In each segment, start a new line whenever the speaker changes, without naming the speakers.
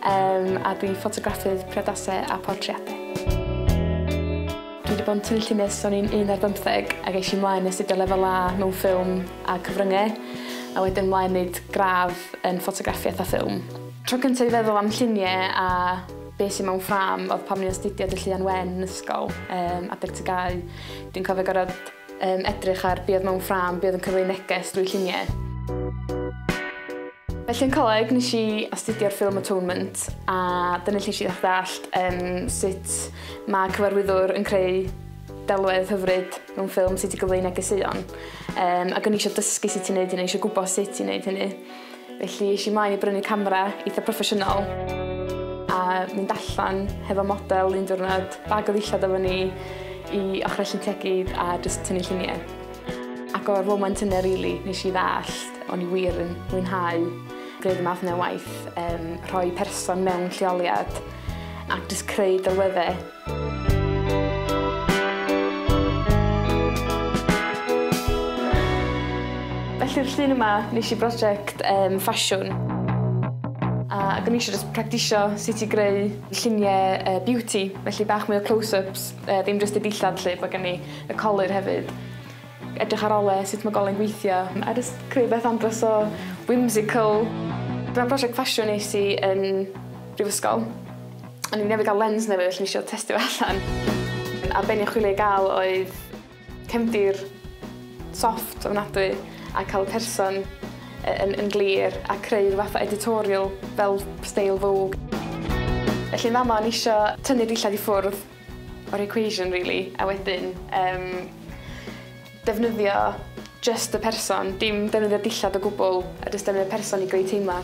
Yym, a dwi ffotograffydd priodasau a portreadau. Dwi wedi bod yn tynnu llinell ers o'n i'n un ar bymtheg ac eisiau mlaen i astudio lefel A mewn ffilm a cyfryngau a wedyn mlaen wneud gradd yn ffotograffiaeth a ffilm. Tro cyntaf i feddwl am lluniau a be sydd mewn ffrâm oedd pan o'n i'n astudio Dylluan Wen yn ysgol, yym, adeg tygau. Dwi'n cofio gorfod Yn edrych ar be oedd mewn ffrâm, be oedd yn cyfleu neges drwy lluniau. Felly yn coleg nes i astudio'r ffilm Atonement a dyna lle nes i ddallt um, sut mae cyfarwyddwr yn creu delwedd hyfryd mewn ffilm, sut i gyfleu negeseuon. Um, ac o'n i eisiau dysgu sut i'n neud hynny, eisiau gwybod sut i'n neud hynny. felly es i mlaen i brynu camera eitha' proffesiynol a mynd allan hefo model un diwrnod, bag o ddillad efo ni i ochrau Llyn Tegid a jyst tynnu llunie. Ac o'r foment yna rili nesh i ddallt o'n i wir yn mwynhau gwneud y math 'ne o waith, yym rhoi person mewn lleoliad ac jyst creu delwedde. Felly'r llun yma, nes i brosiect um, ffasiwn. A ac o'n i eisiau just practisio sut i greu lluniau uh, beauty, felly bach mwy o close-ups, uh, ddim just y dillad lle, bod gen i y colur hefyd. Edrych ar ole sut mae golen gweithio, a just creu beth andros o whimsical. Dyma prosiect ffasiwn nes i yn brifysgol. O'n i newydd gael lens newydd felly nes i testio fe allan. A be' o'n i'n chwilio i ga'l oedd cefndir soft ofnadwy a ca'l y person yy yn yn glir a creu ryw fath o editorial fel steil Vogue. Felly yn fama o'n i isio tynnu dillad i ffwrdd o'r equation rili a wedyn yym Defnyddio jyst y person, dim defnyddio dillad o gwbl, a jyst defnyddio person i greu teimla.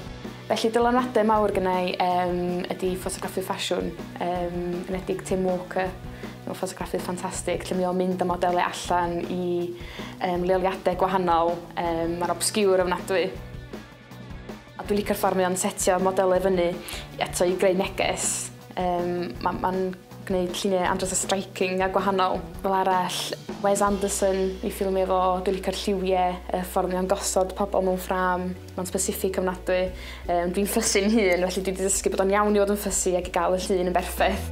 Felly dylanwade mawr gynna i um, ydy ffotograffu ffasiwn, um, yn edig Tim Walker. Mae'n ffotograffydd ffantastig, lle mae o'n mynd â modelau allan i um, leoliadau gwahanol. Um, Mae'n obsgiwr ofnadwy. A dwi licio'r ffordd mae o'n setio modelau i fyny eto i greu neges. Yym ma' ma'n gwneud lluniau andros o striking a gwahanol. Fel arall Wes Anderson ei ffilmie fo, dwi licio'r lliwie, y ffordd mae o'n gosod pobol mewn ffrâm, ma'n specific ofnadwy. Yym dwi'n fussy 'yn hun felly dwi 'di dysgu bod o'n iawn i fod yn fussy ag i ga'l y llun yn berffeth.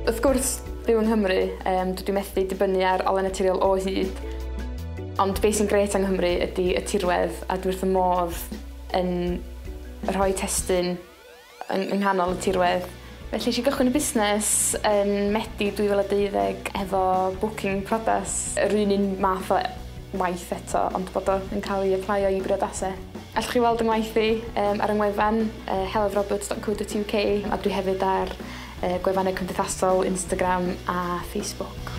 Wrth gwrs byw yng Nghymru yym dydw i methu dibynnu ar ole naturiol o hyd. Ond be sy'n grêt yng Nghymru ydi y tirwedd a dwi wrth fy modd yn rhoi testun yng nghanol y tirwedd. Felly eisiau cychwyn y busnes yn Medi 2012 efo bwcin priodas. Yr un un math o waith eto ond bod o yn cael ei aplaio i briodasau. Allwch chi weld yng ngwaith i ar yng ngwefan helloveroberts.co.uk a dwi hefyd ar Y gwefannau cymdeithasol, Instagram a Facebook.